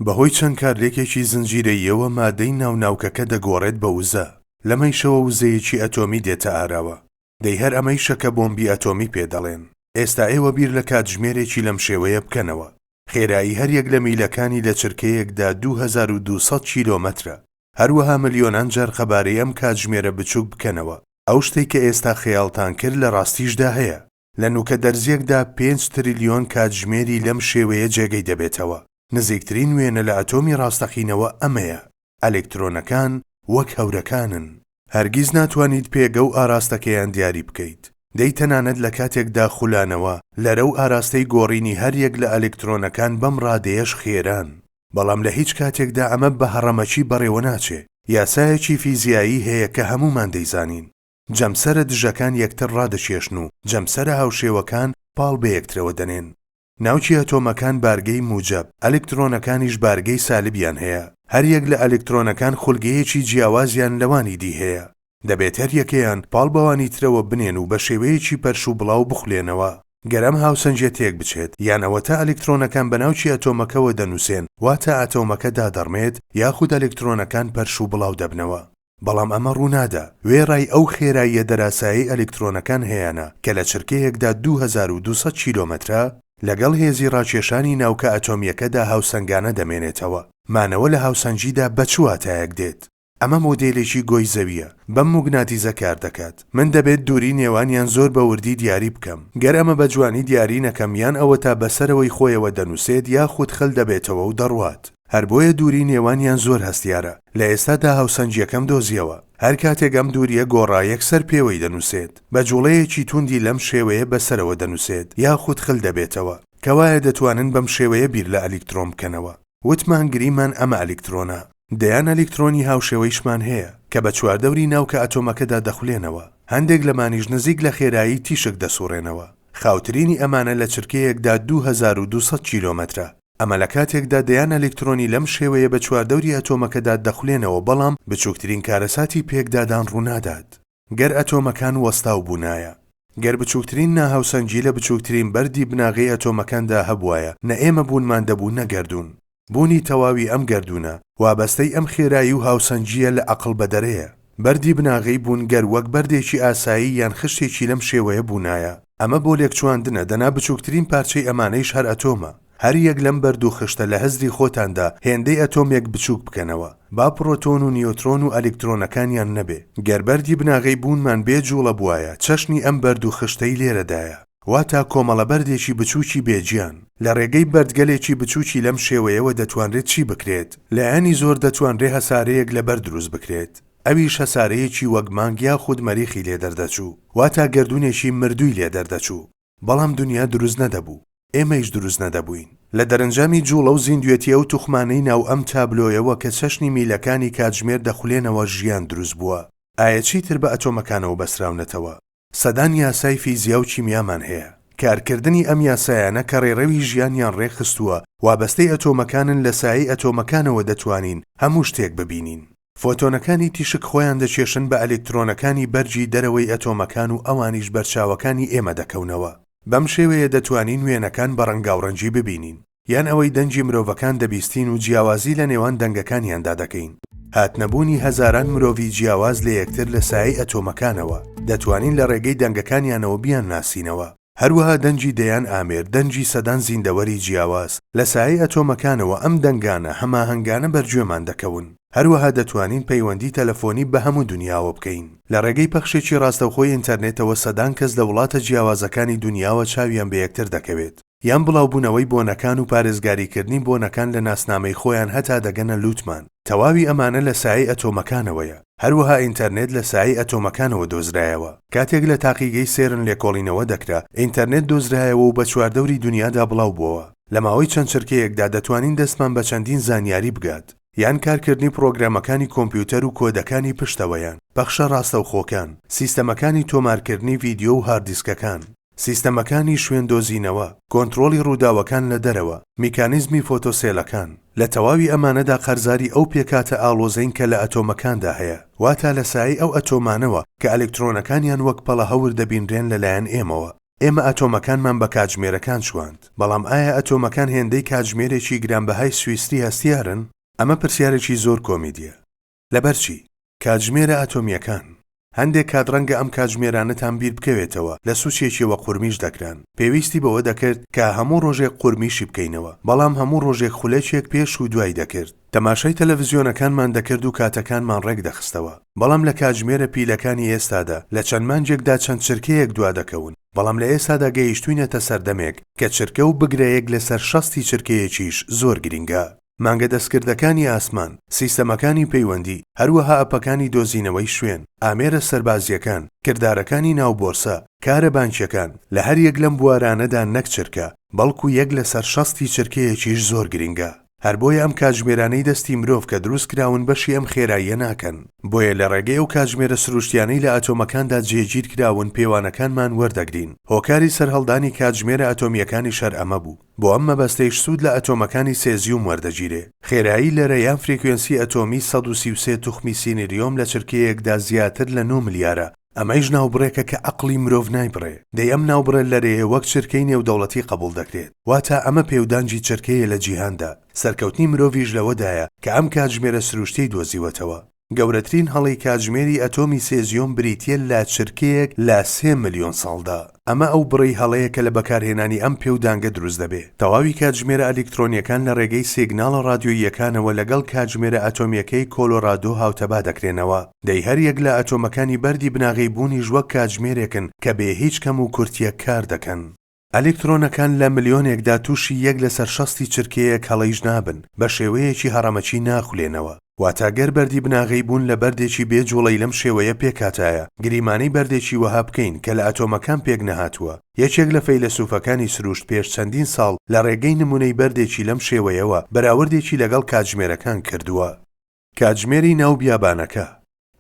بەهۆی چەند کارلێکێکی زنجیرەییەوە مادەی ناو ناوکەکە دەگۆڕێت بە وزە، لەمەیشەوە وزەیەکی ئەتۆمی دێتە ئاراوە، دەی هەر ئەمەیشە کە بۆمبی ئەتۆمی پێ دەڵێن. ئێستا ئێوە بیر لە کاتژمێرێکی لەم شێوەیە بکەنەوە، خێرایی هەر یەک لە میلەکانی لە چرکەیەکدا دوو هەزار و دوو سەد کیلۆمەترە، هەروەها ملیۆنان جار قەبارەی ئەم کاتژمێرە بچووک بکەنەوە، ئەو شتەی کە ئێستا خەیاڵتان کرد لە ڕاستیشدا هەیە، لە نووکە دەرزییەکدا پێنج تریلیۆن کاتژمێری لەم شێوەیە جێگەی دەبێتەوە، نزیکترین وێنە لە ئەتۆمی ڕاستەقینەوە ئەمەیە، ئەلکترۆنەکان وەک هەورەکانن. هەرگیز ناتوانیت پێگە و ئاراستەکەیان دیاری بکەیت، دەی تەنانەت لە کاتێکدا خولانەوە، لەرە و ئاراستەی گۆڕینی هەر یەک لە ئەلکترۆنەکان بەم ڕادەیەش خێران، بەڵام لە هیچ کاتێکدا ئەمە بە هەڕەمەکی بەڕێوە ناچێ. یاسایەکی فیزیایی هەیە کە هەموومان دەیزانین. جەمسەرە دژەکان یەکتر ڕادەکێشن و جەمسەرە هاوشێوەکان پاڵ بە یەکترەوە دەنێن. ناوکی ئەتۆمەکان بارگەی موجەب، ئەلکترۆنەکانیش بارگەی سالبیان هەیە. هەر یەک لە ئەلکترۆنەکان خولگەیەکی جیاوازیان لەوانی دی هەیە. دەبێت هەر یەکەیان پاڵ بەوانی ترەوە بنێن و بە شێوەیەکی پەرش و بڵاو بخولێنەوە. گەر ئەم هاوسەنگیە تێک بچێت، یان ئەوەتا ئەلکترۆنەکان بە ناوکی ئەتۆمەکەوە دەنوسێن، واتە ئەتۆمەکە دادەڕمێت، یاخود ئەلکترۆنەکان پەرش و بڵاو دەبنەوە. بەڵام ئەمە ڕوونادا، وێڕای ئەو خێراییە دەراسایەی ئەلکترۆنەکان هەیانە کە لە چرکەیەکدا دوو هەزار و دوو سەد کیلۆمەترە، لەگەڵ هێزی ڕاکێشانی ناوکە ئەتۆمیەکەدا هاوسەنگانە دەمێنێتەوە. مانەوە لە هاوسەنگیدا بە چ واتایەک دێت؟ ئەمە مۆدێلێکی گۆی زەوییە بەم موگناتیزە کار دەکات من دەبێت دووری نێوانیان زۆر بە وردی دیاری بکەم گەر ئەمە بە جوانی دیاری نەکەم یان ئەوەتا بەسەرەوەی خۆیەوە دەنوسێت یاخود خل دەبێتەوە و دەڕوات هەر بۆیە دووری نێوانیان زۆر هەستیارە لە ئێستادا هاوسەنگیەکەم دۆزیەوە هەر کاتێک ئەم دووریە گۆڕا یەکسەر پێوەی دەنوسێت بە جوڵەیەکی توندی لەم شێوەیە بەسەرەوە دەنوسێت یاخود خل دەبێتەوە کەوایە دەتوانن بەم شێوەیە بیر لە ئەلیکترۆن بکەنەوە. وتمان گریمان ئەمە ئەلیکترۆنە، دەیان ئەلیکترۆنی هاوشێوەیشمان هەیە، کە بە چواردەوری ناوکە ئەتۆمەکەدا دەخولێنەوە، هەندێک لەمانیش نزیک لە خێرایی تیشک دەسوڕێنەوە، خاوترینی ئەمانە لە چرکەیەکدا دوو هەزار و دوو سەد کیلۆمەترە، ئەمە لە کاتێکدا دەیان ئەلیکترۆنی لەم شێوەیە بە چواردەوری ئەتۆمەکەدا دەخولێنەوە بەڵام بچووکترین کارەساتی پێکدادان ڕوونادات. گەر ئەتۆمەکان وەستاو بوونایە. گەر بچووکترین ناهاوسەنگی لە بچووکترین بەردی بناغەی ئەتۆمەکاندا هەبووایە، نە ئێمە بوونمان دەبوو نە گەردوون. بوونی تەواوی ئەم گەردوونە، وابەستەی ئەم خێرایی و هاوسەنگییە لە ئەقڵ بەدەرەیە. بەردی بناغەی بوون گەر وەک بەردێکی ئاسایی یان خشتێکی لەم شێوەیە بوونایە، ئەمە بۆ لێکچواندنە، دەنا بچووکترین پارچەی ئەمانەیش هەر ئەتۆمە. هەر یەک لەم بەردو خشتە لە هزری خۆتاندا هێندەی ئەتۆمێک بچوک بکەنەوە با پرۆتۆن و نیۆترۆن و ئەلیکترۆنەکانیان نەبێ. گەر بەردی بناغەی بوونمان بێ جوڵە بوایە چەشنی ئەم بەردو خشتەی لێرەدایە. واتا کۆمەڵە بەردێکی بچوکی بێ گیان. لە رێگەی بەردگەلێکی بچوکی لەم شێوەیەوە دەتوانرێت چی بکرێت؟ لایەنی زۆر دەتوانرێ هەسارەیەک لە بەرد دروست بکرێت. ئەویش هەسارەیەکی وەک مانگ یاخود مەریخی لێ دەردەچوو. واتا گەردونێکی مردوی لێ دەردەچوو. بەڵام دونیا دروست نەدەبوو، ئێمەیش دروست نەدەبووین. لە دەرەنجامی جووڵە و زیندوێتی ئەو توخمانەی ناو ئەم تابلۆیەوە کە چەشنی میلەکانی کاتژمێر دەخولێنەوە ژیان دروست بووە. ئایا چیتر بە ئەتۆمەکانەوە بەستراونەتەوە؟ سەدان یاسای فیزیا و کیمیامان هەیە. کارکردنی ئەم یاسایانە کە ڕێڕەوی ژیانیان ڕێکخستووە، وابەستەی ئەتۆمەکانن لە سایەی ئەتۆمەکانەوە دەتوانین هەموو شتێک ببینین. فۆتۆنەکانی تیشک خۆیان دەکێشن بە ئەلکترۆنەکانی بەرگی دەرەوەی ئەتۆمەکان و ئەوانیش بەرچاوەکانی ئێمە دەکەونەوە. بەم شێوەیە دەتوانین وێنەکان بە ڕەنگاوڕەنگی ببینین، یان ئەوەی دەنگی مرۆڤەکان دەبیستین و جیاوازی لە نێوان دەنگەکانیاندا دەکەین. هاتنەبوونی هەزاران مرۆڤی جیاواز لە یەکتر لە سایەی ئەتۆمەکانەوە، دەتوانین لە ڕێگەی دەنگەکانیانەوە بیانناسینەوە. هەروەها دەنگی دەیان ئامێر، دەنگی سەدان زیندەوەری جیاواز، لە سایەی ئەتۆمەکانەوە ئەم دەنگانە هەماهەنگانە بەرگوێمان دەکەون. هەروەها دەتوانین پەیوەندی تەلەفۆنی بە هەموو دونیاوە بکەین. لە ڕێگەی پەخشێکی ڕاستەوخۆی ئینتەرنێتەوە سەدان کەس لە وڵاتە جیاوازەکانی دونیاوە چاویان بە یەکتر دەکەوێت. یان بڵاوبوونەوەی بۆنەکان و پارێزگاریکردنی بۆنەکان لە ناسنامەی خۆیان هەتا دەگەنە لووتمان. تەواوی ئەمانە لە سایەی ئەتۆمەکانەوەیە. هەروەها ئینتەرنێت لە سایەی ئەتۆمەکانەوە دۆزرایەوە. کاتێک لە تاقیگەی سێرن لێکۆڵینەوە دەکرا، ئینتەرنێت دۆزرایەوە و بە چواردەوری دونیادا بڵاوبووەوە. لە ماوەی چەند چرکەیەکدا دەتوانین دەستمان بە چەندین زانیاری بگات، یان کارکردنی پڕۆگرامەکانی کۆمپیوتەر و کۆدەکانی پشتەوەیان، پەخشە ڕاستەوخۆکان، سیستەمەکانی تۆمارکردنی ڤیدیۆ و هارددیسکەکان. سیستەمەکانی شوێن دۆزینەوە، کۆنترۆڵی ڕووداوەکان لە دەرەوە، میکانیزمی فۆتۆسێلەکان، لە تەواوی ئەمانەدا قەرزاری ئەو پێکهاتە ئاڵۆزەین کە لە ئەتۆمەکاندا هەیە، واتا لە سایەی ئەو ئەتۆمانەوە کە ئەلکترۆنەکانیان وەک پەڵە هەور دەبینرێن لەلایەن ئێمەوە. ئێمە ئەتۆمەکانمان بە کاتژمێرەکان چواند، بەڵام ئایا ئەتۆمەکان هێندەی کاتژمێرێکی گرانبەهای سویسری هەستیارن؟ ئەمە پرسیارێکی زۆر کۆمیدییە. لەبەر چی؟ کاتژمێرە ئەتۆمییەکان. هەندێک کات ڕەنگە ئەم کاتژمێرانەتان بیر بکەوێتەوە، لە سوچێکیەوە قورمیش دەکران. پێویستی بەوە دەکرد کە هەموو ڕۆژێک قورمیشی بکەینەوە، بەڵام هەموو ڕۆژێک خولەکێک پێش و دوای دەکرد. تەماشای تەلەڤزیۆنەکانمان دەکرد و کاتەکانمان ڕێک دەخستەوە. بەڵام لە کاتژمێرە پیلەکانی ئێستادا، لە چەند مانگێکدا چەند چرکەیەک دوا دەکەون، بەڵام لە ئێستادا گەیشتووینەتە سەردەمێک کە چرکە و بگرە یەک لەسەر شەستی چرکەیەکیش زۆر گرینگە. مانگە دەستکردەکانی ئاسمان، سیستەمەکانی پەیوەندی، هەروەها ئەپەکانی دۆزینەوەی شوێن، ئامێرە سەربازییەکان، کردارەکانی ناو بۆرسە، کارە بانکییەکان، لە هەر یەک لەم بوارانەدا نەک چرکە، بەڵکو یەک لەسەر شەستی چرکەیەکیش زۆر گرینگە. هەر بۆیە ئەم کاتژمێرانەی دەستی مرۆڤ کە دروست کراون بەشی ئەم خێراییە ناکەن. بۆیە لە ڕێگەی ئەو کاتژمێرە سروشتیانەی لە ئەتۆمەکاندا جێگیر کراون پێوانەکانمان وەردەگرین. هۆکاری سەرهەڵدانی کاتژمێرە ئەتۆمییەکانیش هەر ئەمە بوو. بۆ ئەم مەبەستەیش سوود لە ئەتۆمەکانی سێزیوم وەردەگیرێ. خێرایی لەرە یان فرێکوێنسی ئەتۆمی سەد و سی و سێ توخمی سینریۆم لە چرکەیەکدا زیاتر لە نۆ ملیارە، ئەمەیش ناوبڕێکە کە ئەقڵی مرۆڤ نایبڕێ، دەی ئەم ناوبڕە لەرەیە وەک چرکەی نێودەوڵەتی قەبووڵ دەکرێت، واتا ئەمە پێودانگی چرکەیە لە جیهاندا، سەرکەوتنی مرۆڤیش لەوەدایە کە ئەم کاتژمێرە سرووشتیەی دۆزیوەتەوە. گەورەترین هەڵەی کاتژمێری ئەتۆمی سێزیۆم بریتییە لە چرکەیەک لە سێ ملیۆن ساڵدا. ئەمە ئەو بڕەی هەڵەیە کە لە بەکارهێنانی ئەم پێودانگە دروست دەبێ. تەواوی کاتژمێرە ئەلیکترۆنییەکان لە ڕێگەی سیگناڵە ڕادیۆییەکانەوە لەگەڵ کاتژمێرە ئەتۆمییەکەی کۆلۆرادۆ هاوتەبا دەکرێنەوە. دەی هەر یەک لە ئەتۆمەکانی بەردی بناغەی بوونیش وەک کاتژمێرێکن کە بێ هیچ کەم و کورتییەک کار دەکەن. ئەلیکترۆنەکان لە ملیۆنێکدا تووشی یەک لەسەر شەستی چرکەیەک هەڵەیش نابن، بە شێوەیەکی هەڕەمەکی ناخولێنەوە. واتە گەر بەردی بناغەی بوون لە بەردێکی بێ جووڵەی لەم شێوەیە پێکهاتایە، گریمانەی بەردێکی وەها بکەین کە لە ئەتۆمەکان پێک نەهاتووە. یەکێک لە فەیلەسووفەکانی سرووشت پێش چەندین ساڵ لە ڕێگەی نموونەی بەردێکی لەم شێوەیەوە بەراوردێکی لەگەڵ کاتژمێرەکان کردووە. کاتژمێری ناو بیابانەکە.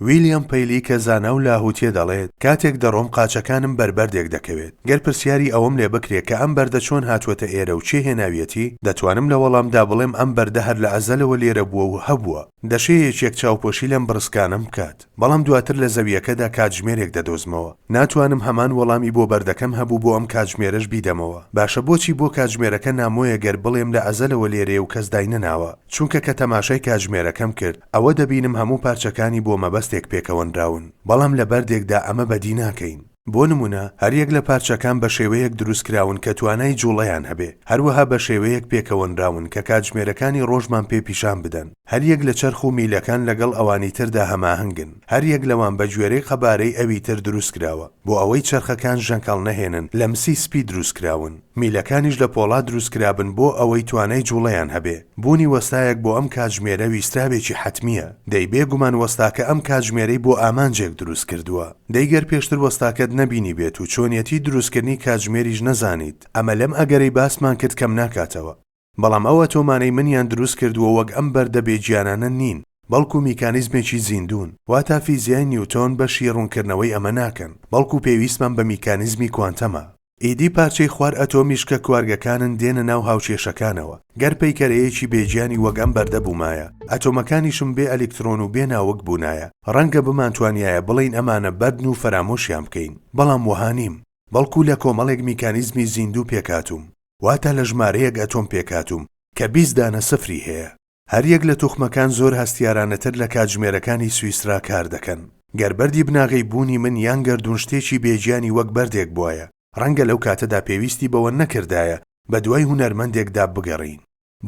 ویلیام پەیلی کە زانا و لاهووتییە دەڵێت، کاتێک دەڕۆم قاچەکانم بەر بەردێک دەکەوێت. گەر پرسیاری ئەوەم لێ بکرێ کە ئەم بەردە چۆن هاتووەتە ئێرە و کێ هێناویەتی، دەتوانم لە وەڵامدا بڵێم ئەم بەردە هەر لە ئەزەلەوە لێرە بووە و هەبووە. دەشێ یەکێک چاوپۆشی لەم بڕسکانەم بکات. بەڵام دواتر لە زەوییەکەدا کاتژمێرێک دەدۆزمەوە. ناتوانم هەمان وەڵامی بۆ بەردەکەم هەبوو بۆ ئەم کاتژمێرەش بیدەمەوە. باشە بۆچی بۆ کاتژمێرەکە نامۆیە گەر بڵێم لە ئەزەلەوە لێرەیە و کەس داینەناوە؟ چونکە کە تەماشای کاتژمێرەکەم کرد ئەوە دەبینم هەموو پارچەکانی بۆ مەبەستێک پێکەوەنراون. بەڵام لە بەردێکدا ئەمە بەدی ناکەین. بۆ نموونە، هەریەک لە پارچەکان بە شێوەیەک دروست کراون کە توانای جووڵەیان هەبێ، هەروەها بە شێوەیەک پێکەوەنراون کە کاتژمێرەکانی ڕۆژمان پێ پیشان بدەن. هەریەک لە چەرخ و میلەکان لەگەڵ ئەوانی تردا هەماهەنگن، هەریەک لەوان بە گوێرەی قەبارەی ئەوی تر دروست کراوە. بۆ ئەوەی چەرخەکان ژەنکەڵ نەهێنن، لە مسی سپی دروست کراون. میلەکانیش لە پۆڵا دروست کرابن بۆ ئەوەی توانای جوڵەیان هەبێ. بوونی وەستایەک بۆ ئەم کاتژمێرە ویستراوێکی حەتمییە. دەی بێ گومان وەستاکە ئەم کاتژمێرەی بۆ ئامانجێک دروست کردووە. دەی گەر پێشتر وەستاکەت نەبینیبێت و چۆنیەتیی دروستکردنی کاتژمێریش نەزانیت، ئەمە لەم ئەگەرەی باسمان کرد کەم ناکاتەوە. بەڵام ئەو ئەتۆمانەی منیان دروست کردووە وەک ئەم بەردە بێ گیانانە نین، بەڵکو میکانیزمێکی زیندوون، واتا فیزیای نیوتۆن بەشی ڕوونکردنەوەی ئەمە ناکەن، بەڵکو پێویستمان بە میکانیزمی کوانتەمە. ئیدی پارچەی خوار ئەتۆمیش کە کوارگەکانن دێنە ناو هاوکێشەکانەوە، گەر پەیکەرەیەکی بێ گیانی وەک ئەم بەردە بوومایە، ئەتۆمەکانیشم بێ ئەلیکترۆن و بێ ناوک بوونایە، ڕەنگە بمانتوانیایە بڵێین ئەمانە بەردن و فەرامۆشیان بکەین، بەڵام وەها نیم، بەڵکو لە کۆمەڵێک میکانیزمی زیندوو پێکهاتووم. واتە لە ژمارەیەک ئەتۆم پێکهاتووم کە بیست دانە سفری هەیە. هەریەک لە توخمەکان زۆر هەستیارانەتر لە کاتژمێرەکانی سویسرا کار دەکەن. گەر بەردی بناغەی بوونی من یان گەردوون شتێکی بێ گیانی وەک بەردێک بوایە، ڕەنگە لەو کاتەدا پێویستی بەوە نەکردایە بە دوای هونەرمەندێکدا بگەڕێین.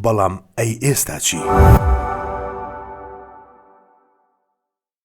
بەڵام ئەی ئێستا چی؟